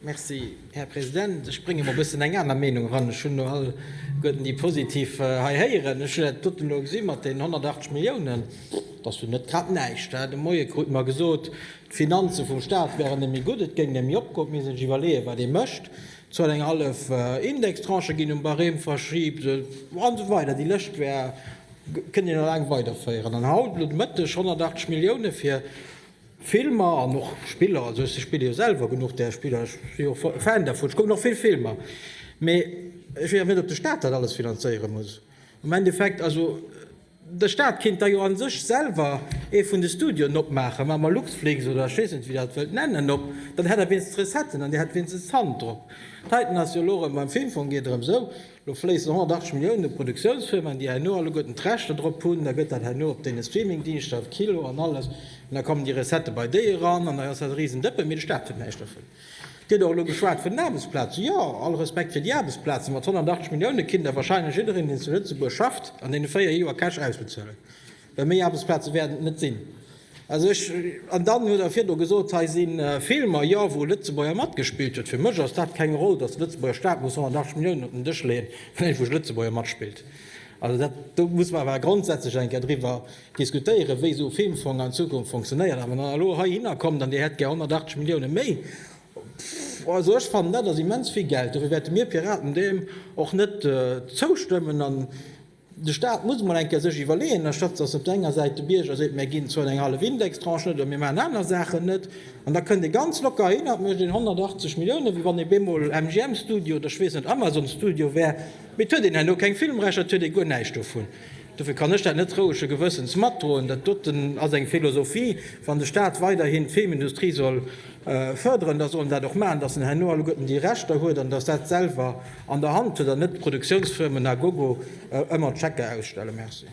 Merci, Här President. Ech brénge mol e bëssen eng aner Meinung eran. Ech hunn elo all Goeten déi positiv hei héieren. Ech hat doten elo gesi mat deenen 180 Milliounen, dat ass jo net grad näischt. De Moie krut mer gesot, d'Finanze vum Stat wären némme gutt, et géing némme opgoen. Et misst ee sech iwwerleeën, wat ee mécht. Et sollt eng hallef Indextranche ginn, um Barème verschibt an esou weider. Déi Lëscht wär, kënnt een elo laang weiderféieren. An haut elo de Mëtteg 180 Milliounen fir Filmer an och Spiller, also ech spille jo selwer genuch där Spiller, ech si jo och Fan dervun, ech kucken och vill Filmer, mee ech weess awer net, ob de Staat dat alles finanzéiere muss. Am Endeffekt, also de Staat kéint da jo a sech selwer ee vun de Studioen opmaachen, maache mer Luxflix oder ech weess net, wéi Der et wëllt nennen, op, dann hätt Der wéinstens d'Recetten an Dir hätt wéinstens d'Hand drop. D'heiten ass jo elo erëm beim Filmfong, geet erëm esou, Lo fléissen 180 Milliounen u Produktiounsfirmen, déi herno alleguerten d'Rechter drop hunn. Da gëtt dat herno op deene Streamingdingschter, op Kilo an alles, an da kommen déi Recettë bei déi eran, an da ass dat e riesen Dëppen. Mee de Staat huet näischt dovun. Et gëtt och elo geschwat vun den Aarbechtsplazen. Jo, all Respekt fir déi Aarbechtsplazen, mat 180 Milliounen kinnt Der wahrscheinlech jiddereen, deen zu Lëtzebuerg schafft, an deene véier Joer Cash ausbezuelen. Well méi Aarbechtsplaze wäerten et net sinn. Also ech, an dann huet Der virdru gesot, hei si Filmer, jo, wou e Lëtzebuerger matgespillt huet. Fir mech ass dat keng Roll, datt de Lëtzebuerger Staat muss 180 Milliounen op den Dësch leeën, well ee vu Lëtzebuerger matspillt. Also dat, do muss mer awer grondsätzlech eng Kéier driwwer diskutéieren, wéi esou e Filmfong an Zukunft funktionéiert. A wann Der elo heihinner kommt an Dir hätt gär 180 Milliounen méi, pff, also ech fannen, dat ass immens vill Geld. Dofir wäerte mir Piraten deem och net zoustëmmen. De Stat muss emol eng Kéier sech iwwerleeën, anstatt dass op der enger Säit de Bierger seet, mir ginn zwou an eng hallef Indextranche net oder mir maachen aner Saachen net. An da kënnt ee ganz locker hin a mécht een 180 Milliounen, wéi wann ee bemol MGM-Studio oder ech weess net, Amazon-Studio wär. Mee et huet een herno keng Filmrechter, et huet ee guer näischt dovun. Dofir kann ech dat net rouege Gewëssens matdroen. Dat doten ass eng Philosophie, wann de Stat weiderhin d'Filmindustrie soll Fërderen, dass en dat och maachen, dass en herno alleguerten déi Rechter huet an dass dat selwer an der Hand huet an net d'Produktiounsfirmen à gogo ëmmer d'Chèquer ausstellen. Merci.